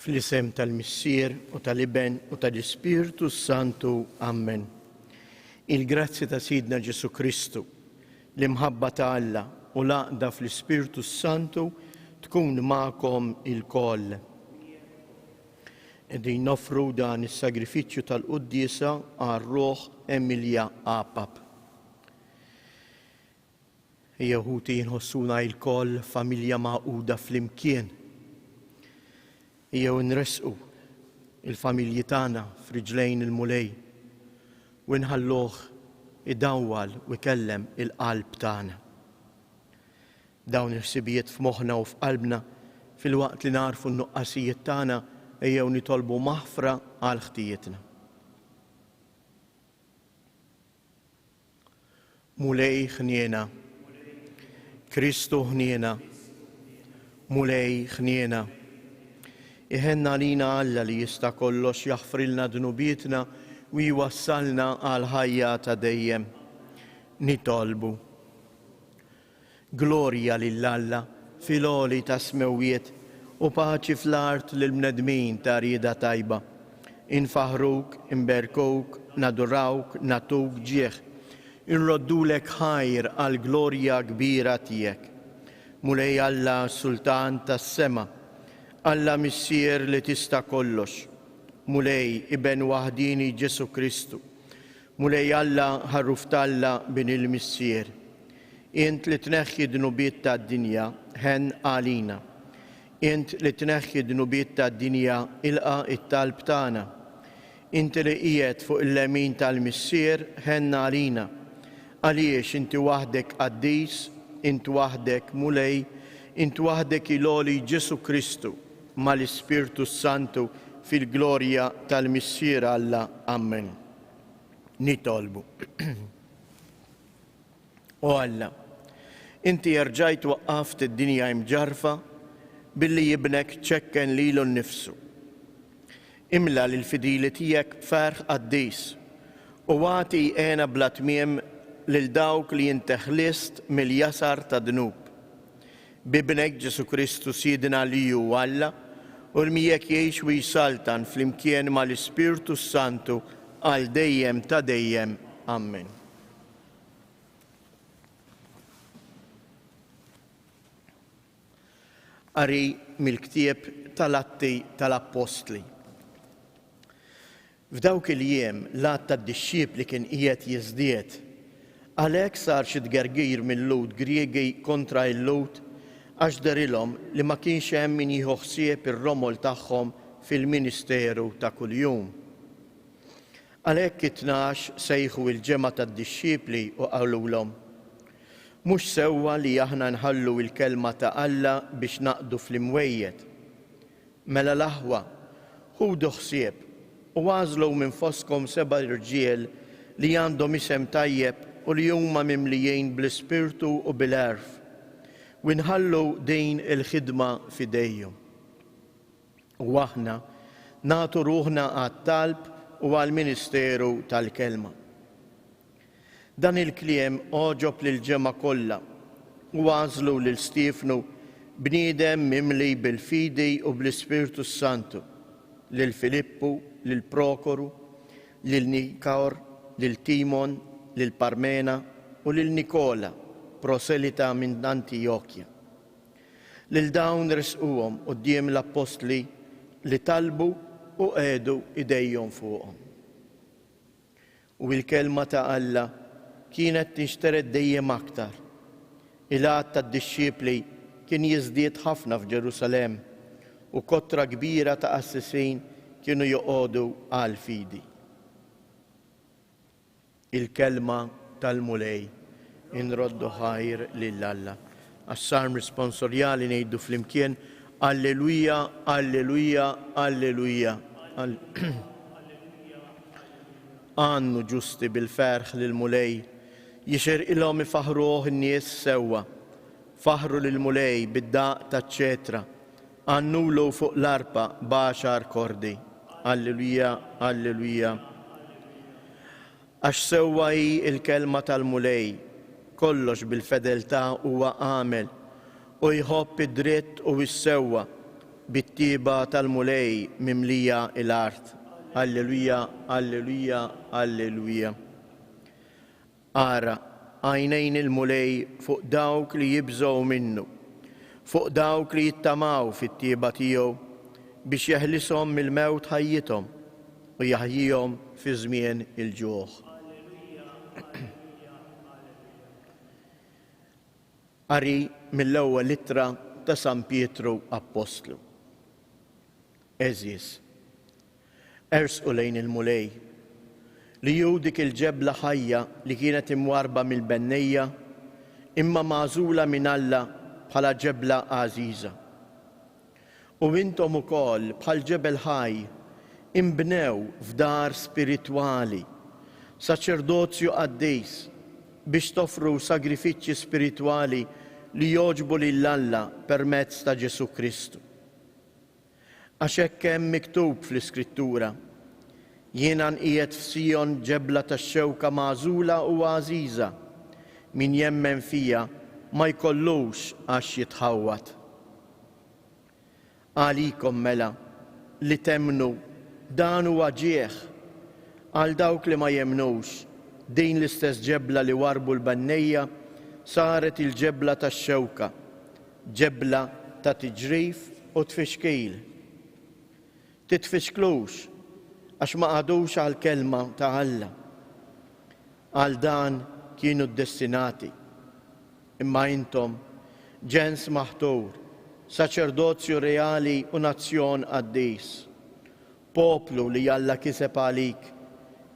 Fl-isem tal-Missier u tal-Iben u tal-Ispirtu s-Santu. Ammen. Il-grazzja ta' Sidna Ġesu Kristu, l-imħabba ta' Alla u l-għaqda fl-Ispirtu s-Santu tkun magħkom ilkoll. Qegħdin nofru dan is-sagrifiċċju tal-quddiesa għar-ruħ Emilja Apap. Ejjew ħuti inħossuna ilkoll familja magħquda flimkien. Ejjew inressqu il-familji tagħna f'riġlejn il-Mulej u nħalluh idawwal u jkellem il-qalb tagħna. Dawn il-ħsibijiet f'moħħna u f'qalbna filwaqt li nagħrfu n-nuqqasijiet tagħna ejjew nitolbu maħfra għal ħtijietna. Mulej ħniena. Kristu ħniena. Mulej ħniena. Iħenn għalina Alla li jista' kollox jaħfrilna dnubietna u jwassalna għal ħajja ta' dejjem. Nitolbu. Glorja lil Alla fil-għoli tas-smewwiet u paċi fl-art lill-bnedmin ta' rieda tajba. Infaħħruk, inberkuk, nadurawk, nagħtuk ġieħ. Inroddulek ħajr għall-glorja kbira tiegħek. Mulej Alla Sultan tas-sema, Alla Missier li tista' kollox, Mulej Iben waħdieni Ġesù Kristu, Mulej Alla, Ħarruf t'Alla, Bin il-Missier, Int li tneħħi d-dnubiet tad-dinja, ħenn għalina. Int li tneħħi d-dnubiet tad-dinja, ilqa' t-talb tagħna. Inti li qiegħed fuq il-lemin tal-Missier, ħenn għalina. Għaliex Inti waħdek qaddis, Int waħdek Mulej, Int waħdek il-għoli Ġesù Kristu, mal-Ispirtu s-Santu, fil-glorja tal-Missier Alla. Ammen. nitolbu. O Alla, inti erġajt waqqaft id-dinja imġarfa billi jibnek ċekken lilu nnifsu. Imla lil fidili tiegħek b'ferħ qaddis u għati jqena bla tmiem lil dawk li inti ħlist mill-jasar ta' dnub. B'Ibnek Ġesù Kristu Sidna li hu Alla, u li miegħek jgħix u jsaltan flimkien mal-Ispirtu s-Santu għal dejjem ta' dejjem. Ammen. Qari mill-ktieb tal-Atti tal-Appostli. F'dawk il-jiem l-għadd tad-dixxipli kien qiegħed jiżdied. Għalhekk sar xi tgergir mil-Lhud Griegi kontra il-Lhud għax dehrilhom li ma kienx hemm min jieħu ħsieb ir-romol tagħhom fil-ministeru ta' kuljum. Għalhekk it-tnax sejħu il-ġemgħa tad-dixxipli u qalulhom, Mhux sewwa li aħna nħallu l-kelma ta' Alla biex naqdu fl-imwejjed. Mela l-aħwa, ħudu ħsieb, u agħżlu minn fostkom seba' rġiel li għandhom isem tajjeb u li huma mimlijin bl-Ispirtu u bil-għerf, u nħallu din il-ħidma f'idejhom. U aħna nagħtu ruħna għat-talb u għall-ministeru tal-kelma. Dan il-kliem għoġob lill-ġemgħa kollha. U għażlu lil Stiefnu, bniedem mimli bil-fidi u bl-Ispirtu s-Santu, lil Filippu, lil Prokoru, lil Nikawr, lil Timon, lil Parmena, u lil Nikola, proselita minn Antijokja. Lil dawn ressquhom quddiem l-appostli li talbu u qegħdu idejhom fuqhom. U l-Kelma ta' Alla kienet tinxtered dejjem aktar. Il-għadd tad-dixxipli kien jiżdied ħafna f'Ġerusalemm, u kotra kbira ta' qassisin kienu joqogħdu għall-fidi. Il-Kelma tal-Mulej. Inroddu ħajr lil Alla. Għas-Salm Responsorjali ngħidu flimkien, Alleluia, Alleluia, Alleluia. Għannu ġusti bil-ferħ lil Mulej, jixer ilhom ifaħruh in-nies sewwa. Faħru lil Mulej bid-daqq taċ-ċetra, għannulu fuq l-arpa b'għaxar kordi. Alleluia, Alleluia. Għax sewwa hi l-kelma tal-Mulej, Kollox bil-fedeltà huwa għamel, u jħobb id-dritt u s-sewwa, bit-tjieba tal-Mulej mimlija l-art. Alleluja, alleluja, alleluja. Ara, għajnejn il-Mulej fuq dawk li jibżgħu minnu, fuq dawk li jittamaw fit-tjieba tiegħu, biex jeħlishom mill-mewt ħajjithom, u jaħjihom fi żmien il-ġuħ. Qari mill-ewwel ittra ta' San Pietru Appostlu. Eżis, ersqu lejn il-Mulej li ju dik il-ġebla ħajja li kienet imwarba mill-bennejja imma magħżula minn Alla bħala ġebla għażiża. U intom ukoll, bħal ġebel ħaj, inbnew f'dar spiritwali, saċerdozju qaddis, biex toffru sagrifiċċji spiritwali li jogħġbu lil Alla permezz ta' Ġesù Kristu. Għax hekk hemm miktub fl-Iskrittura, Jiena nqiegħed f'Sijon ġebla tax-xewka magħżula u għażiża, min jemmen fija ma jkollux għax jitħawwad. Għalikom mela, li temmnu, dan huwa ġieħ. Għal dawk li ma jemmnux, din l-istess ġebla li warrbu l-bennejja saret il-ġebla tax-xewka, ġebla ta' tiġrif u tfixkil. Titfixklux, għax ma qagħdux għall-kelma ta' Alla. Għal dan kienu ddestinati. Imma intom, ġens maħtur, saċerdozju reali u nazzjon qaddis, poplu li Alla kiseb għalik,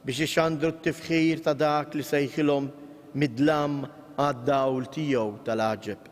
biex ixandru t-tifħir ta' dak li sejħilhom mid-dlam għad-dawl tiegħu tal-għaġeb.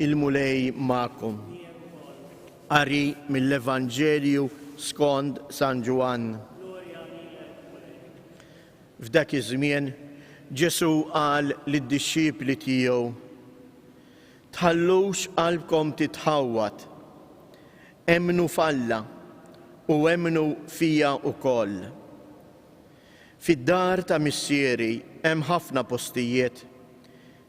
Il-Mulej magħkom. Qari mill-Evanġelju skond San Ġwann. F'dak iż-żmien Ġesù qal lid-dixxipli tiegħu, Tħallux qalbkom titħawwad. Emmnu f'Alla u emmnu fija wkoll. Fid-dar ta' Missieri hemm ħafna postijiet.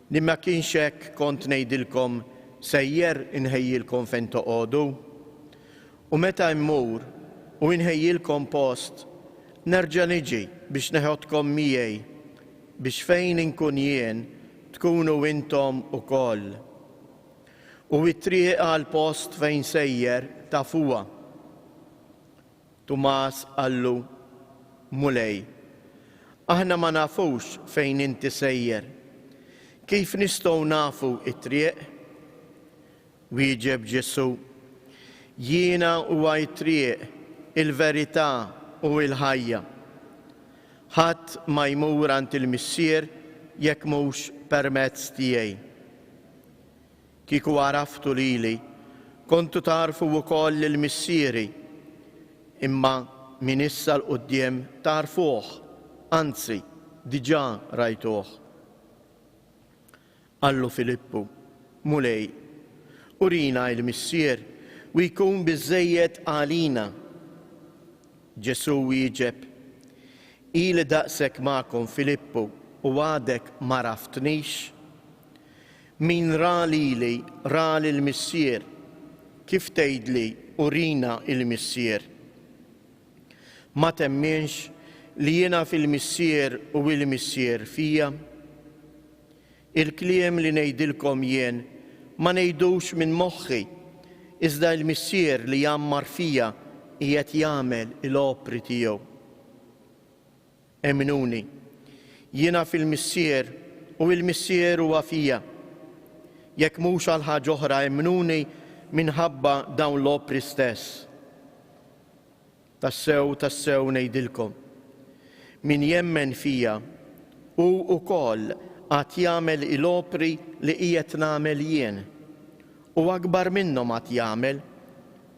Li ma kienx hekk kont ngħidilkom sejjer inħejjilkom fejn toqogħdu. U meta mmur u inħejjilkom post, nerġa' niġi biex neħodkom miegħi, biex fejn inkun jien, tkunu intom ukoll. U t-triq għall-post fejn sejjer tafuha. Tumas qallu, Mulej, aħna ma nafux fejn inti sejjer, kif nistgħu nafu t-triq? Wieġeb Ġesù, Jiena huwa t-triq, il-verità u l-ħajja. Ħadd ma jmur għand il-Missier jekk mhux permezz tiegħi. Kieku għaraftu lili, kontu tagħrfu wkoll lil Missieri, imma minn issa 'l quddiem tagħrfuh, anzi, diġà rajtuh. Qallu Filippu, Mulej, urina il-Missier u jkun biżżejjed għalina. Ġesù wieġeb, Ili daqshekk magħkom, Filippu, u għadek m'għaraftnix? Min ra lili, ra lill-Missier, kif tgħidli, Urina l-Missier? Ma temminx li jiena fil-Missier u l-Missier fija? Il-kliem li ngħidilkom jien ma ngħidux minn moħħi, iżda l-Missier li jgħammar fija qiegħed jagħmel l-opri tiegħu. Emnuni, jiena fil-Missier u l-Missier huwa fija. Jekk mhux għal ħaġa oħra emnuni minħabba dawn l-opri stess. Tassew, tassew ngħidilkom, min jemmen fija, hu wkoll għad jagħmel il-opri li qiegħed nagħmel jien, u akbar minnhom għad jagħmel,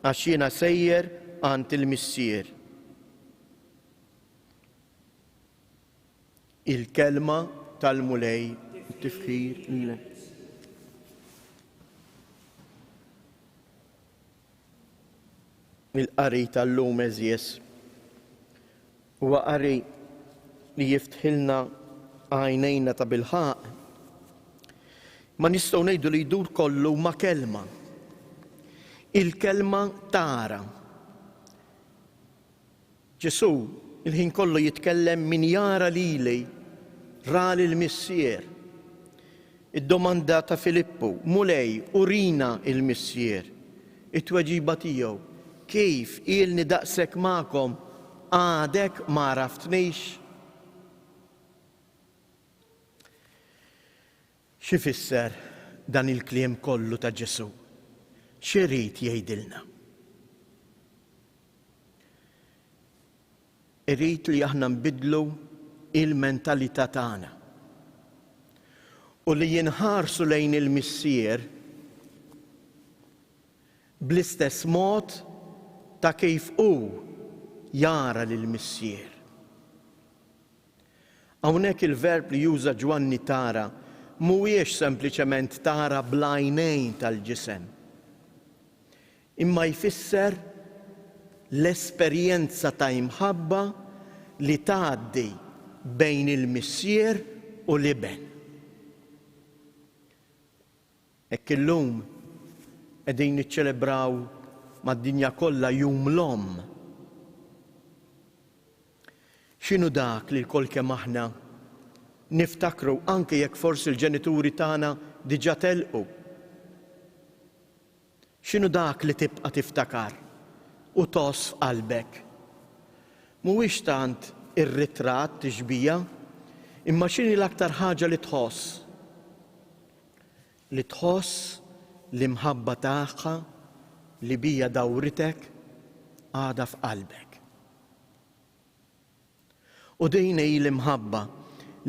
għax jiena sejjer għand il-Missier. Il-kelma tal-Mulej. Tifħir lilek. il-qari tal-lum eżjes. Huwa qari li jiftħilna għajnejna ta' bilħaq. Ma nistgħu ngħidu li jdur kollu ma' kelma. Il-kelma tara. Ġesù l-ħin kollu jitkellem min jara lili, ra lill-Missier. Id-domanda ta' Filippu, Mulej, urina l-Missier. It-tweġiba tiegħu, Kif ilni daqshekk magħkom, għadek ma għaraftnix? X'ifisser dan il-kliem kollu ta' Ġesù? X'irid jgħidilna? Irid li aħna nbiddlu l-mentalità tagħna u li jinħarsu lejn il-Missier bl-istess mod ta' kif hu jara lill-Missier. Hawnhekk il-verb li juża Ġwanni tara mhuwiex sempliċement tara bl-għajnejn tal-ġisem, imma jfisser l-esperjenza ta' imħabba li tgħaddi bejn il-Missier u l-Iben. Hekk illum qegħdin niċċelebraw mad-dinja kollha Jum l-Omm. X'inhu dak li lkoll kemm aħna niftakru anke jekk forsi l-ġenituri tagħna diġà telqu? X'inhu dak li tibqa' tiftakar u tgħożż f'qalbek? Mhuwiex tant ir-ritratt, tixbiha, imma x'inhi l-aktar ħaġa li tħoss? li tħoss l-imħabba tagħha li bija dawritek għadha f'qalbek. U din hi l-imħabba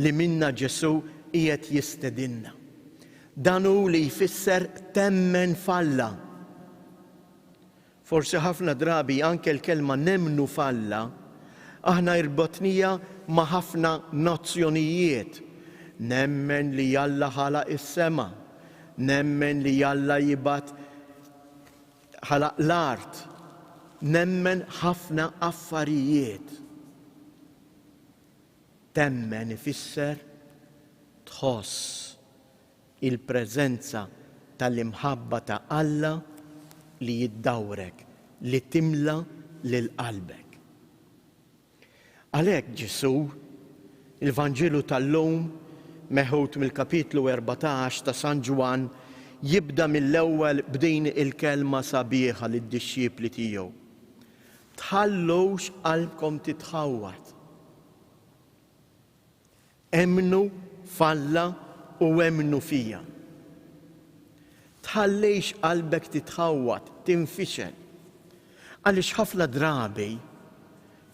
li minnha Ġesù qiegħed jistedinna. Dan hu li jfisser temmen f'Alla. Forsi ħafna drabi anke l-kelma nemmnu f'Alla aħna irbotnija ma' ħafna nozzjonijiet, nemmen li Alla ħalaq is-sema, nemmen li Alla jibgħat ħalaq l-art, nemmen ħafna affarijiet. Temmen ifisser tħoss Il-preżenza tal-imħabba ta' Alla li ddawrek, li timla lil qalbek. Għalhekk Ġesù, il-Vanġelu tal-lum, meħud mill-Kapitlu 14 ta' San Ġwann, jibda mill-ewwel b'din il-kelma sabiħa lid-dixxipli tiegħu, Tħallux qalbkom titħawwad. Emmnu f'Alla u emmnu fija. Tħallix qalbek titħawwad, tinfixel. Għaliex ħafna drabi,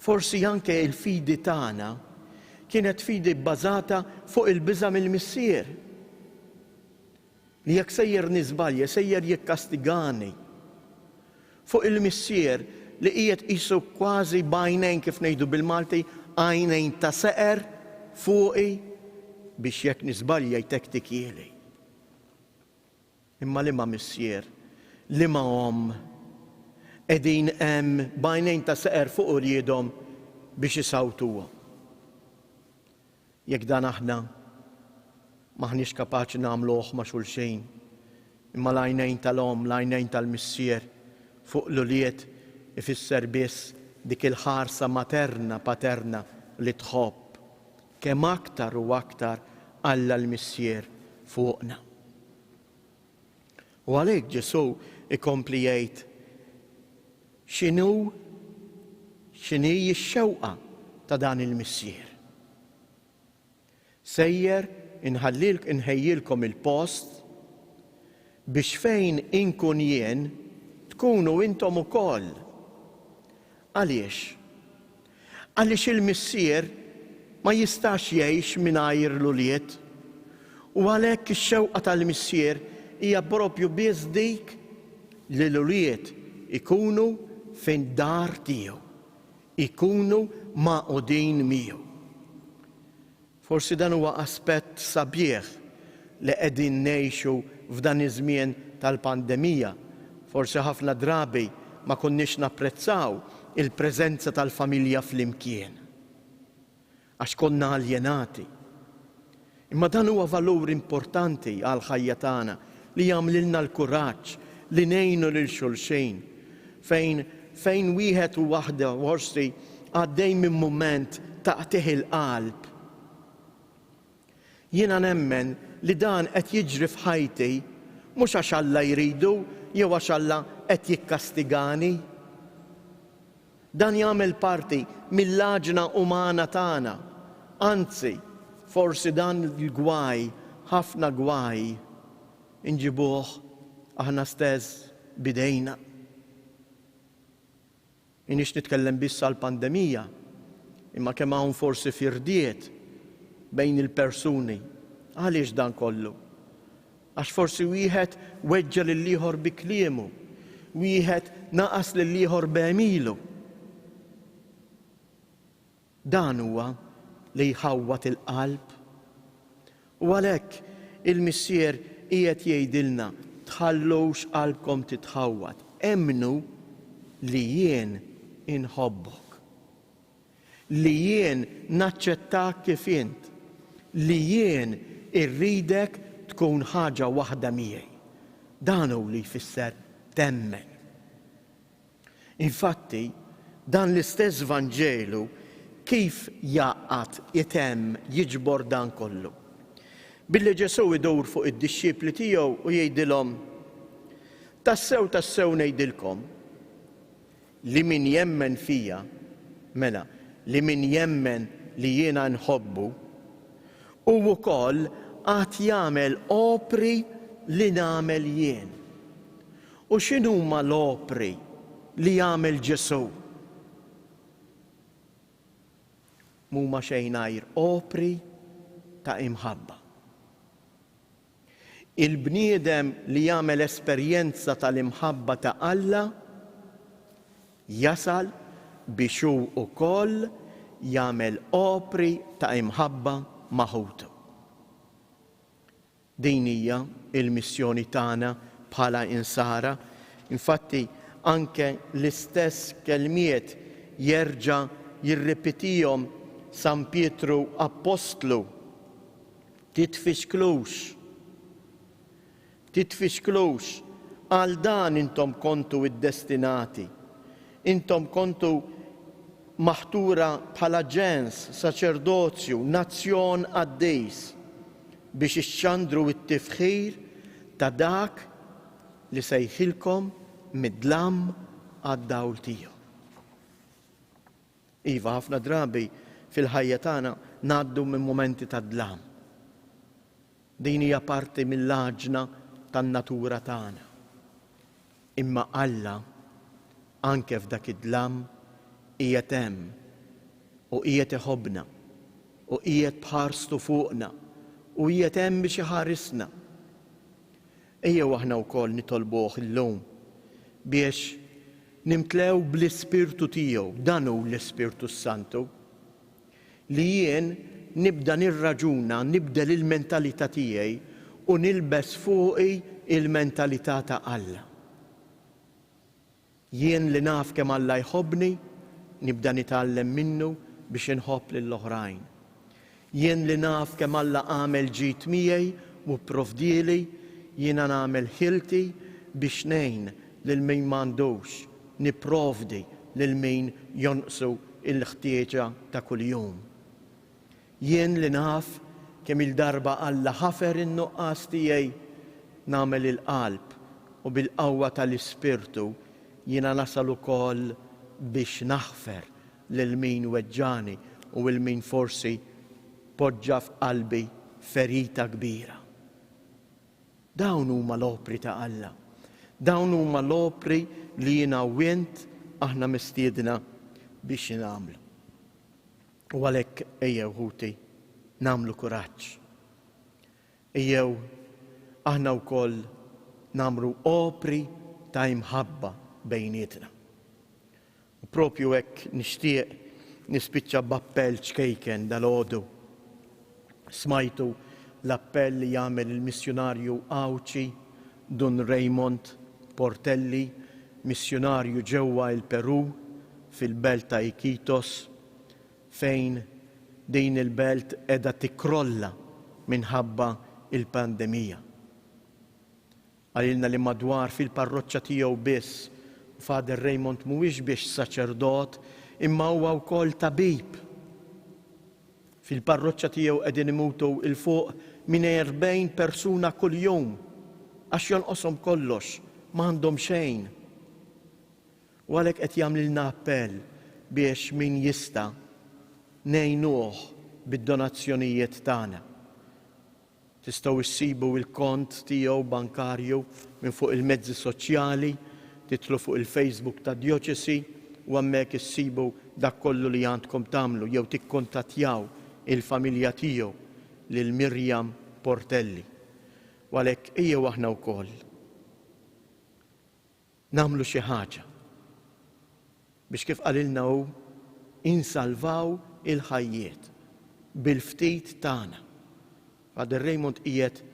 forsi anke il-fidi tagħna kienet fidi bbażata fuq il-biża' mill-Missier. li jekk sejjer niżbalja sejjer jikkastigani. Fuq il-missier li qiegħed qisu kważi b'għajnejn kif ngħidu bil-Malti, għajnejn ta' seqer fuqi biex jekk niżbalja jtektikieli. Imma liema missier, liema omm qegħdin hemm b'għajnejn ta' seqer fuq uliedhom biex isawtuhom? Jekk dan aħna m'aħniex kapaċi nagħmluh ma' xulxejn, imma l-għajnejn tal-omm, l-għajnejn tal-missier fuq l-ulied ifisser biss dik il-ħarsa materna, paterna li tħobb, kemm aktar u aktar Alla l-Missier fuqna. U għalhekk Ġesù jkompli jgħid, X'inhu, x'inhi x-xewqa ta' dan il-missier? Sejjer inħejjilkom il-post biex fejn inkun jien tkunu intom ukoll. Għaliex? Għaliex il-missier ma jistax jgħix mingħajr l-ulied, u għalhekk ix-xewqa tal-missier hija proprju biss dik li l-ulied ikunu fid-dar tiegħu, ikunu magħqudin miegħu. Forsi dan huwa aspett sabiħ li qegħdin ngħixu f'dan iż-żmien tal-pandemija. Forsi ħafna drabi ma konniex napprezzaw il-preżenza tal-familja flimkien għax konna aljenati. Imma dan huwa valur importanti għall-ħajja tagħna li jagħmlilna l-kuraġġ li ngħinu lil xulxin fejn fejn wieħed u waħda forsi għaddej minn mument ta' qtigħ il-qalb. Jiena nemmen li dan qed jiġri f'ħajti mhux għax Alla jridu jew għax Alla qed jikkastigani. Dan jagħmel parti mill-għaġna umana tagħna. Anzi, forsi dan il-gwaj, ħafna gwaj, inġibuh aħna stess b'idejna. M'iniex nitkellem biss għall-pandemija, imma kemm hawn forsi firdiet bejn il-persuni. Għaliex dan kollu? Għax forsi wieħed weġġa' lill-ieħor bi kliemu, wieħed naqas lill-ieħor b'għemilu. Dan huwa li jħawwad il-qalb. U għalhekk il-Missier qiegħed jgħidilna, Tħallux qalbkom titħawwad, emmnu li jien inħobbok. Li jien naċċettak kif int. Li jien irridek tkun ħaġa waħda miegħi. Dan hu li jfisser temmen. Infatti, dan l-istess Vanġelu kif jgħaqqad, itemm, jiġbor dan kollu? Billi Ġesù idur fuq id-dixxipli tiegħu u jgħidilhom, Tassew, tassew ngħidilkom, Li min jemmen fija, mela, li min jemmen li jiena nħobbu, hu wkoll għad jagħmel opri li nagħmel jien. U x'inhuma l-opri li jagħmel Ġesù? M'huma xejn għajr opri ta' imħabba. Il-bniedem li jagħmel esperjenza tal-imħabba ta' Alla jasal biex hu wkoll jagħmel opri ta' imħabba ma' ħutu. Din hija l-missjoni tagħna bħala Insara. Infatti, anke l-istess kelmiet jerġa' jirripetihom San Pietru appostlu, Titfixklux. Titfixklux. Għal dan intom kontu iddestinati. Intom kontu maħtura bħala ġens, saċerdozju, nazzjon qaddis, biex ixxandru t-tifħir ta' Dak li sejħilkom mid-dlam għad-dawl tiegħu. Iva, ħafna drabi fil-ħajja tagħna ngħaddu minn mumenti ta' dlam. Din hija parti mill-għaġna tan-natura tagħna. Imma Alla, anke f'dak id-dlam, qiegħed hemm u qiegħed iħobbna u qiegħed b'ħarstu fuqna u qiegħed hemm biex iħarisna. Ejjew aħna wkoll nitolbuh illum biex nimtlew bl-Ispirtu tiegħu, dan hu l-Ispirtu s-Santu, li jien nibda nirraġuna, nibdel il-mentalità tiegħi u nilbes fuqi l-mentalità ta' Alla. Jien li naf kemm Alla jħobbni, nibda nitgħallem minnu biex inħobb lil oħrajn. Jien li naf kemm Alla għamel ġid miegħi u pprovdieli, jiena nagħmel ħilti biex ngħin lil min m'għandux, nipprovdi lil min jonqsu l-ħtieġa ta' kuljum. Jien li naf kemm-il darba Alla ħafer in-nuqqas tiegħi, nagħmel il-qalb u bil-qawwa tal-Ispirtu jiena nasal ukoll biex naħfer lil min weġġagħni u 'l min forsi poġġa f'qalbi ferita kbira. Dawn huma l-opri ta' Alla. Dawn huma l-opri li jiena u int aħna mistiedna biex nagħmlu. U għalhekk ejjew ħuti nagħmlu kuraġġ. Ejjew aħna wkoll nagħmlu opri ta' imħabba bejnietna. U propju hekk nixtieq nispiċċa b'appell ċkejken dal-għodu. Smajtu l-appell li jagħmel il-missjunarju Għawdxi Dun Raymond Portelli, missjunarju ġewwa il-Peru fil-belt ta' Iquitos, fejn din il-belt qiegħda tikkrolla minħabba l-pandemija. Qalilna li madwar fil-parroċċa tiegħu biss u Father Raymond mhuwiex biex saċerdot imma huwa wkoll tabib. Fil-parroċċa tiegħu qegħdin imutu il fuq minn 40 persuna kuljum għax jonqoshom kollox, ma għandhom xejn. U għalhekk qed jagħmlilna appell biex min jista' ngħinuh bid-donazzjonijiet tagħna. Tistgħu issibu il-kont tiegħu bankarju minn fuq il-mezzi soċjali, tidħlu fuq il-Facebook tad-Djoċesi u hemmhekk issibu dak kollu li għandkom tagħmlu jew tikkuntattjaw il-familja tiegħu lil Miriam Portelli. U għalhekk ejjew aħna wkoll. nagħmlu xi ħaġa biex kif qalilna hu insalvaw il-ħajjiet bil-ftit tagħna. Father Raymond qiegħed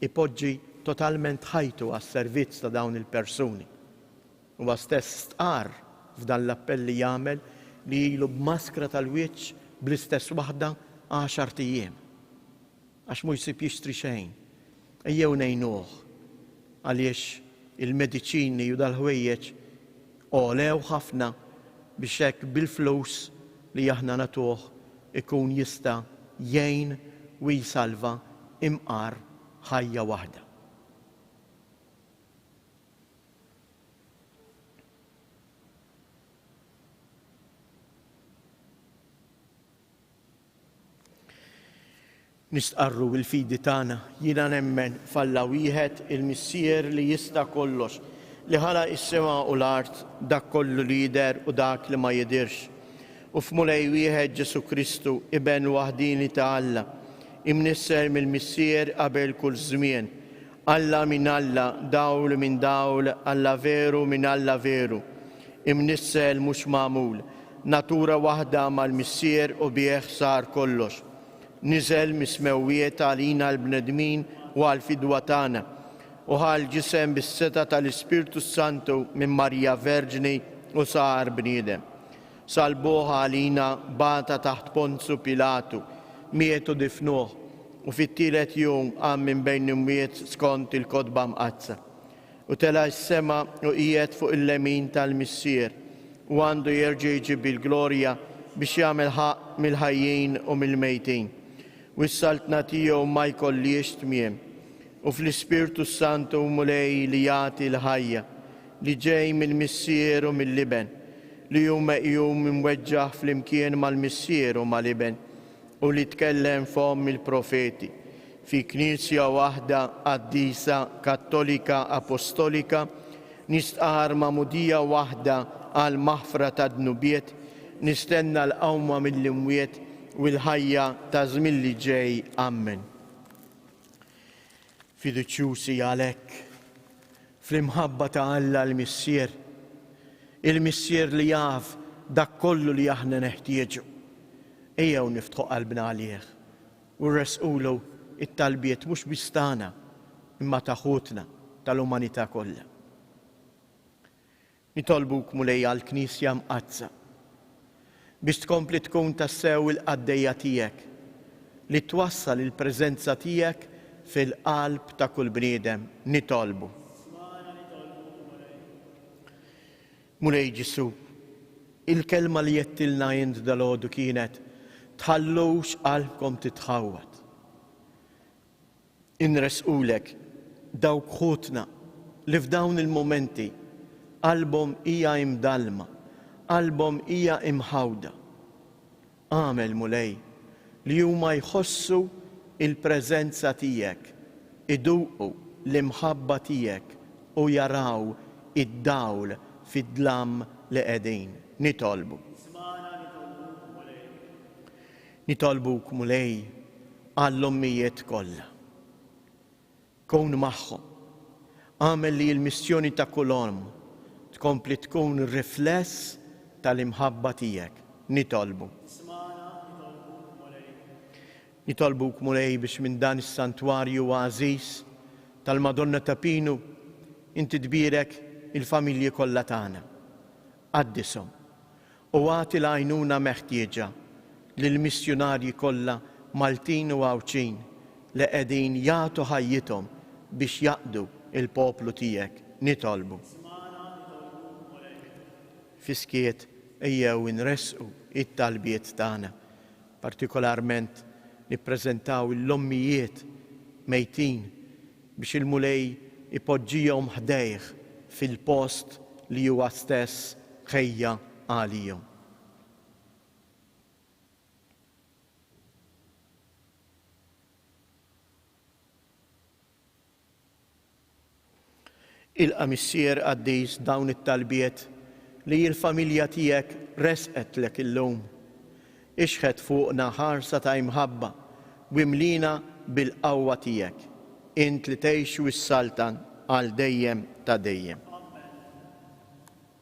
ipoġġi totalment ħajtu għas-servizz ta' dawn il-persuni. Huwa stess stqarr f'dan l-appell li jagħmel li ilu b'maskra tal-wiċċ bl-istess waħda għaxart ijiem. Għax mhu jsib jixtri xejn. Ejjew ngħinuh għaliex il-mediċini u dal-ħwejjeġ għolew ħafna biex hekk bil-flus li aħna nagħtuh ikun jista' jgħin u jsalva imqar ħajja waħda. Nistqarru l-fidi tagħna, Jiena nemmen f'Alla wieħed, il-Missier li jista' kollox, li ħalaq is-sema u l-art, dak kollu li jidher u dak li ma jidhirx, u f'Mulej wieħed Ġesù Kristu, Iben waħdieni ta' Alla, imnissel mill-Missier qabel kull żmien, Alla minn Alla, dawl minn dawl, Alla veru minn Alla veru, imnissel mhux magħmul, natura waħda mal-Missier u bih sar kollox. Niżel mis-smewwiet għalina l-bnedmin u għall-fidwa tagħna, u ħa l-ġisem bis-setgħa tal-Ispirtu s-Santu minn Marija Verġni u sar bniedem. Salbuh għalina, bata taħt Ponzu Pilatu, miet u difnuh, u fit-tielet jum qam minn bejn l-imwiet skont il-Kotba Mqaddsa. U tela' s-sema u qiegħed fuq il-lemin tal-Missier, u għandu jerġa' jiġi bil-glorja biex jagħmel ħaqq mill-ħajjin u mill-mejtin. U s-Saltna tiegħu ma jkollhiex tmiem. U fl-Ispirtu s-Santu, Mulej li jagħti l-ħajja. li ġej mill-Missier u mill-Iben, li hu meqjum imweġġaħ flimkien mal-Missier u mal-Iben, u li tkellem f'fomm il-profeti, fi Knisja waħda qaddisa Kattolika Apostolika, nistqarr magħmudija waħda għall-maħfra tad-dnubiet, nistenna l-qawma mill-imwiet u l-ħajja taż-żmien li ġej. Ammen. Fiduċjużi għalhekk fl-imħabba ta' Alla l-Missier, il-Missier li jaf dak kollu li aħna neħtieġu. Ejjew niftħu qalbna għalih u nressqulu t-talbiet mhux biss tagħna, imma ta' ħutna tal-umanità kollha. Nitolbuk, Mulej, għall-Knisja Mqaddsa, biex tkompli tkun tassew il-qaddejja tiegħek, li twassal il-preżenza tiegħek fil-qalb ta' kull bniedem. Nitolbu. Smana, nitolbuk, Mulej. Mulej Ġesù, il-kelma li għedtilna int dalgħodu kienet, Tħallux qalbkom titħawwad. Inressqulek dawk ħutna li f'dawn il-mumenti qalbhom hija imdallma, qalbhom hija imħawda. Agħmel, Mulej, li huma jħossu l-preżenza tiegħek, iduqu l-imħabba tiegħek u jaraw id-dawl fid-dlam li qegħdin nitolbu. Ismagħna nitolbuk, Mulej. Nitolbuk, Mulej, għall-ommijiet kollha. Kun magħhom. Agħmel li l-missjoni ta' kull omm tkompli tkun rifless tal-imħabba tiegħek. Nitolbu. Smagħna, nitolbuk, Mulej. Nitolbuk, Mulej, biex minn dan is-santwarju għażiż tal-Madonna ta' Pinu inti tbierek il-familji kollha tagħna. Qaddishom, u agħti l-għajnuna meħtieġa lill-missjunarji kollha Maltin u Għawdxin li qegħdin jagħtu ħajjithom biex jaqdu l-poplu tiegħek. Nitolbu. Ismagħna, nitolbuk, Mulej. Fis-skiet ejjew inressqu t-talbiet tagħna. Partikolarment nippreżentaw l-ommijiet mejtin biex il-Mulej ipoġġihom ħdejh fil-post li huwa stess ħejja għalihom. Ilqa' Missier qaddis dawn it-talbiet li l-familja tiegħek ressqetlek illum. Ixħet fuqna ħarsa ta' imħabba u imlina bil-qawwa tiegħek, int li tgħix u ssaltan għal dejjem ta' dejjem. Amen.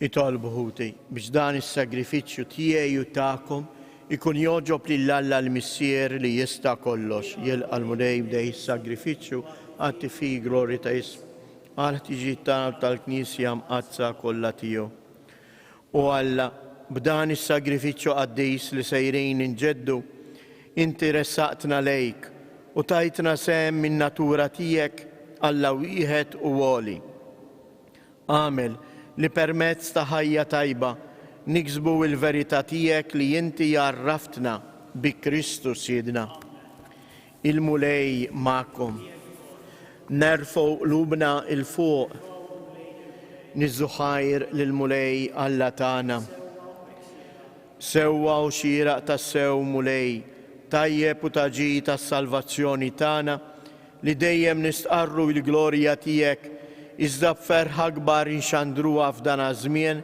Itolbu, ħuti, biex dan is-sagrifiċċju tiegħi u tagħkom ikun jogħġob lil Alla l-Missier li jista' kollox. Jilqa' l-Mulej b'dej is-sagrifiċċju atti fii glorja ta' ismu, għall-ħtiġijiet tagħna u tal-Knisja mqaddsa kollha tiegħu. O Alla, b'dan is-sagrifiċċju qaddis li sejrin inġeddu, inti ressaqtna lejk u tajtna sehem min-natura tiegħek, Alla wieħed u għoli. Agħmel li permezz ta' ħajja tajba niksbu l-verità tiegħek li inti għarraftna bi Kristu Sidna. Il-Mulej magħkom. Nerfgħu qlubna 'il fuq. Niżżu ħajr lill-Mulej Alla tagħna. Sewwa u xieraq tassew, Mulej tajjeb u ta' ġid għas-salvazzjoni tagħna, li dejjem nistqarru il-glorja tiegħek, iżda b'ferħ akbar inxandruha f'dan aż-żmien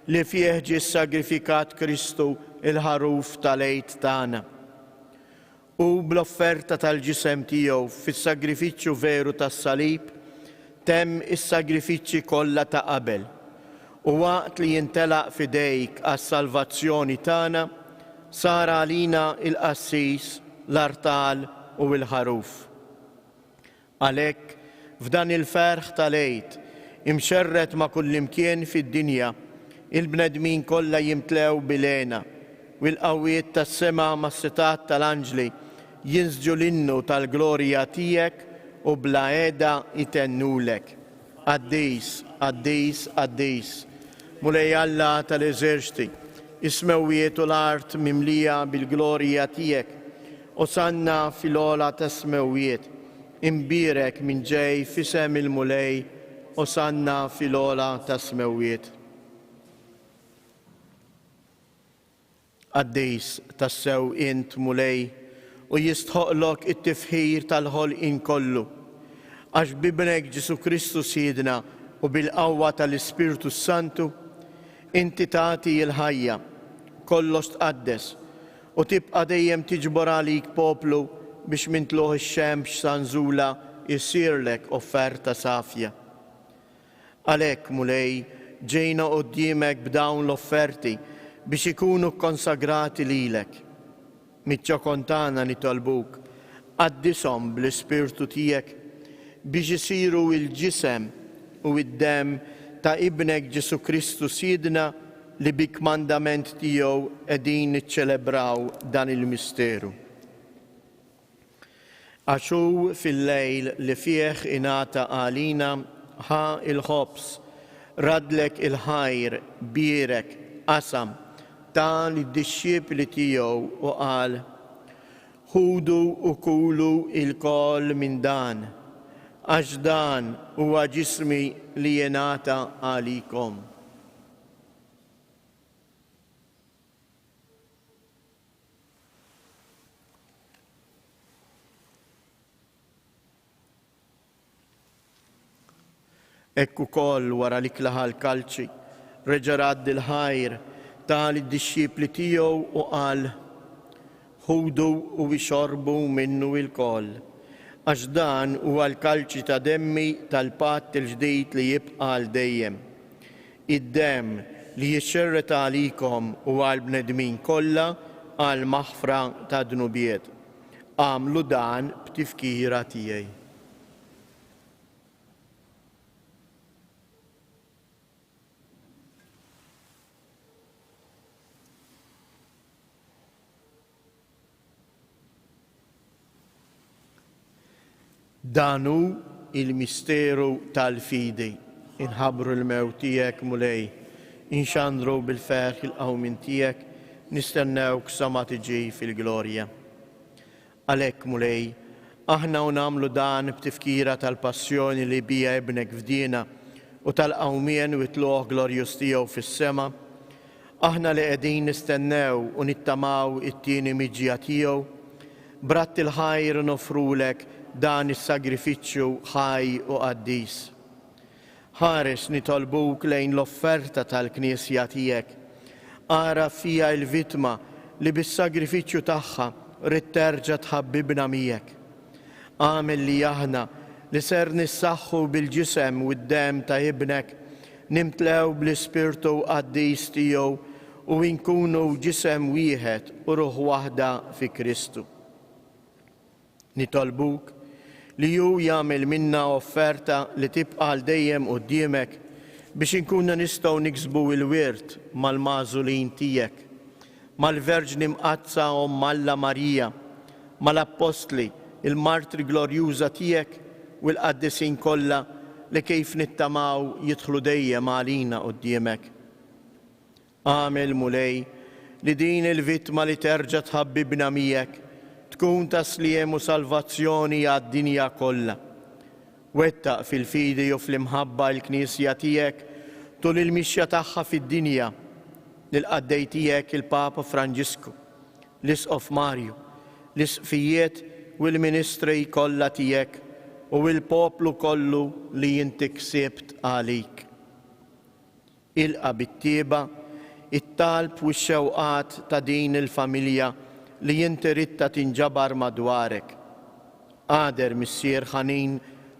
li fih ġie ssagrifikat Kristu, il-Ħaruf tal-Għid tagħna. u bl-offerta tal-ġisem tiegħu fis-sagrifiċċju veru tas-salib, temm is-sagrifiċċji kollha ta' qabel. U waqt li jintelaq f'idejk għas-salvazzjoni tagħna, sar għalina l-qassis, l-artal u l-ħaruf. Għalhekk, f'dan il-ferħ tal-Għid, imxerred ma' kullimkien fid-dinja, il-bnedmin kollha jimtlew bil-hena, u l-qawwiet tas-sema mas-sitat tal-anġli jinsġu l-innu tal-glorja tiegħek u bla heda jtennulek. Qaddis, qaddis, qaddis, Mulej Alla tal-eżerċti, is-smewwiet u l-art mimlija bil-glorja tiegħek. Osanna fil-ogħla tas-smewwiet. Imbierek min ġej f'isem il-Mulej, osanna fil-ogħla tas-smewwiet. Qaddis tassew int, Mulej, u jistħoqqlok it-tifħir tal-ħolqien kollu, għax b'Ibnek Ġesù Kristu Sidna u bil-qawwa tal-Ispirtu s-Santu, inti tagħti l-ħajja, kollox tqaddes, u tibqa' dejjem tiġbor għalik poplu biex minn tlugħ ix-xemx sa nżulha jsirlek offerta safja. Għalhekk, Mulej, ġejna quddiemek b'dawn l-offerti biex ikunu kkonsagrati lilek. Miċ-ċokon tagħna nitolbuk, qaddishom bl-Ispirtu tiegħek biex isiru l-ġisem u d-demm ta' Ibnek Ġesù Kristu Sidna li bi kmandament tiegħu qegħdin niċċelebraw dan il-misteru. Għax hu fil-lejl li fih ingħata għalina, ħa l-ħobż, raddlek il-ħajr, bierek, qasam, ta lid-dixxipli tiegħu u qal, Ħudu u kulu lkoll minn dan, għax dan huwa ġismi li jingħata għalikom. Hekk ukoll wara li klaħa l-kalċi, reġa' radd il-ħajr, ta lid-dixxipli tiegħu u qal, Ħudu u ixorbu minnu ilkoll, għax dan huwa l-kalċi ta' demmi tal-patt il-ġdid li jibqa' għal dejjem. id-demm li jixxerred għalikom u għall-bnedmin kollha għall-maħfra tad-dnubiet. Agħmlu dan b'tifkira tiegħi. Dan hu il-misteru tal-fidi. Inħabbru l-mewt tiegħek, Mulej. Inxandru bil-ferħ il-qawmien tiegħek, nistennewk sa ma tiġi fil-glorja. Għalhekk, Mulej, aħna u nagħmlu dan b'tifkira tal-passjoni li biha Ibnek fdiena u tal-qawmien u t-tlugħ glorjuż tiegħu fis-sema, Aħna li qegħdin nistennew u nittamaw it-tieni miġja tiegħu, b'radd il-ħajr noffrulek dan is-sagrifiċċju ħaj u qaddis. Ħares nitolbuk lejn l-offerta tal-Knisja tiegħek. Agħraf fija il-vittma li bis-sagrifiċċju tagħha ridt terġa' tħabbibna miegħek. Agħmel li aħna, li ser nissaħħu bil-ġisem u d-demm ta' Ibnek, nimtlew bl-Ispirtu Qaddis tiegħu u nkunu ġisem wieħed u ruħ waħda fi Kristu. Nitolbuk li hu jagħmel minna offerta li tibqa' għal dejjem quddiemek biex inkunu nistgħu niksbu l-wirt mal-magħżulin tiegħek mal-Verġni Mqaddsa Omm Alla Marija, mal-Appostli, il-martri glorjuża tiegħek u l-qaddisin kollha li kif nittamaw jidħlu dejjem għalina quddiemek. Agħmel, Mulej, li din il-vittma li terġa' tħabbibna miegħek tkun ta' sliem u salvazzjoni għad-dinja kollha. Wettaq fil-fidi u fl-imħabba l-Knisja tiegħek tul il-mixja tagħha fid-dinja, lill-qaddej tiegħek il-Papa Franġisku, l-Isqof Marju, l-Isqfijiet u l-ministri kollha tiegħek u l-poplu kollu li inti ksibt għalik. Ilqa' bit-tjieba t-talb u x-xewqat ta' din il-familja li inti ridtha tinġabar madwarek. Agħder Missier ħanin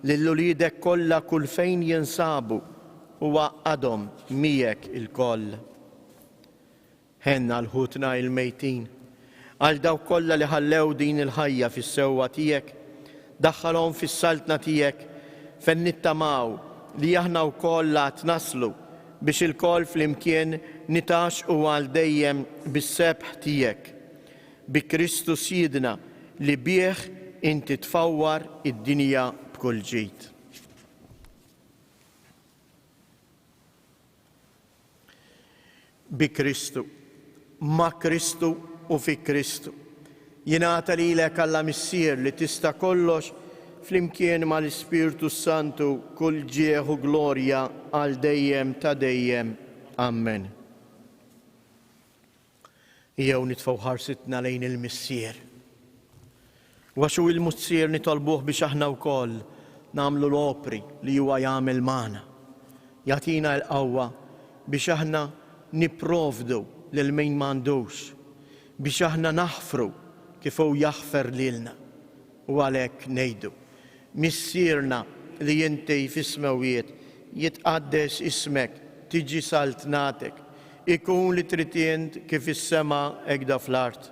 lil uliedek kollha kull fejn jinsabu u għaqqadhom miegħek ilkoll. Ħenn għal ħutna il-mejtin. Għal dawk kollha li ħallew din il-ħajja fis-sewwa tiegħek, daħħalhom fis-saltna tiegħek fejn nittamaw li aħna wkoll għad naslu biex ilkoll flimkien nitgħaxxqu għal dejjem bis-sebħ tiegħek, bi Kristu Sjiedna li bih inti tfawwar id-dinja b'kull ġid. Bi Kristu, ma' Kristu u fi Kristu. Jingħata lilek Alla Missier li tista' kollox flimkien mal-Ispirtu s-Santu kull ġieħ u glorja għal dejjem ta' dejjem. Ammen. Ejjew nitfgħu ħarsitna lejn il-Missier. U għax hu l-Missier nitolbuh biex aħna wkoll nagħmlu l-opri li huwa jagħmel magħna. Jagħtina l-qawwa biex aħna nipprovdu lil min m'għandux, biex aħna naħfru kif hu jaħfer lilna. U għalhekk ngħidu, Missierna li inti fis-smewwiet, jitqaddes ismek, tiġi saltnatek, ikun li trid int kif fis-sema hekk da fl-art.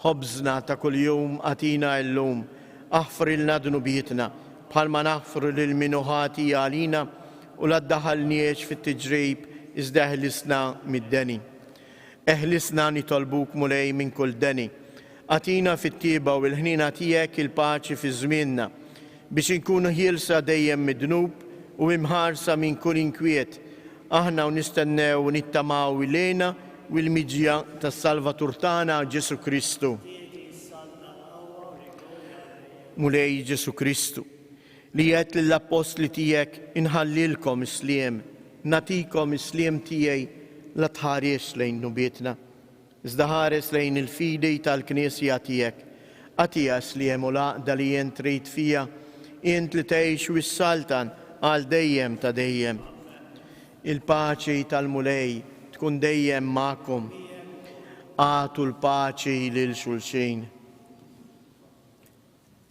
Ħobżna ta' kuljum agħtina illum, aħfrilna dnubietna, bħalma naħfru lil min hu ħati għalina, u la ddaħħalniex fit-tiġrib, iżda eħlisna mid-deni. Eħlisna nitolbuk, Mulej, minn kull deni. Agħtina fit-tjieba u l-ħniena tiegħek il-paċi fi żmienna, biex inkunu ħielsa dejjem mid-dnub u imħarsa minn kull inkwiet, aħna u nistennew u nittamaw il-għena u l-miġja tas-Salvatur tagħna Ġesù Kristu. Mulej Ġesù Kristu, li għedt lill-appostli tiegħek inħallilkom is-sliem, nagħtikom is-sliem tiegħi la tħarisx lejn dnubietna, Iżda ħares lejn il-fidi tal-Knisja tiegħek. Għatias li hemm u l-għaqda li int trid fiha, int li tgħix u ssaltan għal dejjem ta' dejjem. Il-paċi tal-Mulej tkun dejjem magħkom. Agħtu l-paċi lil xulxin.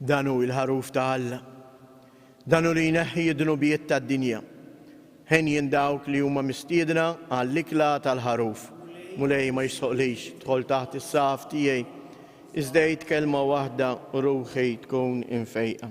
Dan hu l-ħaruf ta' Alla. Dan hu li jneħħi d-dnubiet tad-dinja. Henjin dawk li huma mistiedna għall-ikla tal-ħaruf. Mulej ma jisħoqlix tħol taħt is-saf tiegħi. Iżdejt kelma waħda u ruħi tkun infejqa.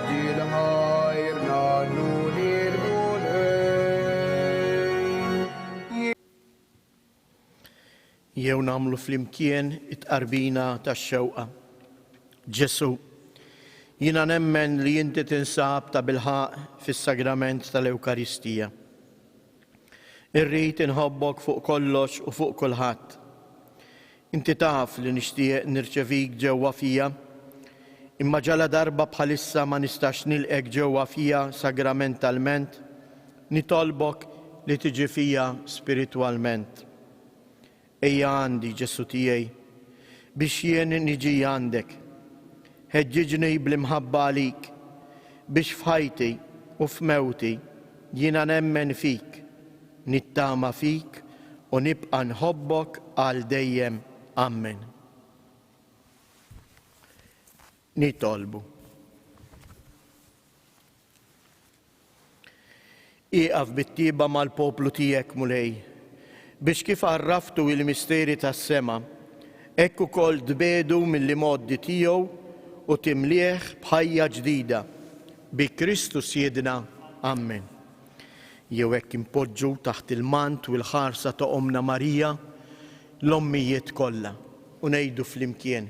Dil-ħajr ngħannu lill-Mulej. Jew nagħmlu flimkien it-tqarbina tax-xewqa. Ġesù, jiena nemmen li inti tinsab tabilħaqq fis-Sagrament tal-Ewkaristija. Irrid inħobbok fuq kollox u fuq kulħadd. Inti taf li nixtieq nirċevik ġewwa fija, imma ġaladarba bħalissa ma nistax nilqgħek ġewwa fija sagramentalment, nitolbok li tiġi fija spiritwalment. Ejja għandi, Ġesù tiegħi, biex jien niġi għandek. Ħeġġiġni bl-imħabba għalik biex f'ħajti u f'mewti jiena nemmen fik, nittama fik u nibqa' nħobbok għal dejjem. Ammen. Nitolbu. Ieqaf bit-tieba mal-poplu tiegħek, Mulej, biex kif għarraftu il-misteri tas-sema, hekk ukoll tbiegħdu mill-imgħoddi tiegħu u timlieh b'ħajja ġdida. Bi Kristu Siedna. Ammen. Jew hekk impoġġu taħt il-mant u l-ħarsa ta' Ommna Marija l-ommijiet kollha u ngħidu flimkien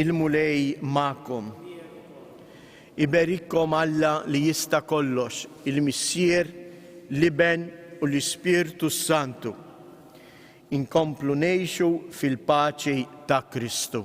Il-Mulej magħkom. Iberikkom Alla li jista' kollox, il-Missier, l-Iben u l-Ispirtu s-Santu. Inkomplu ngħixu fil-paċi ta' Kristu.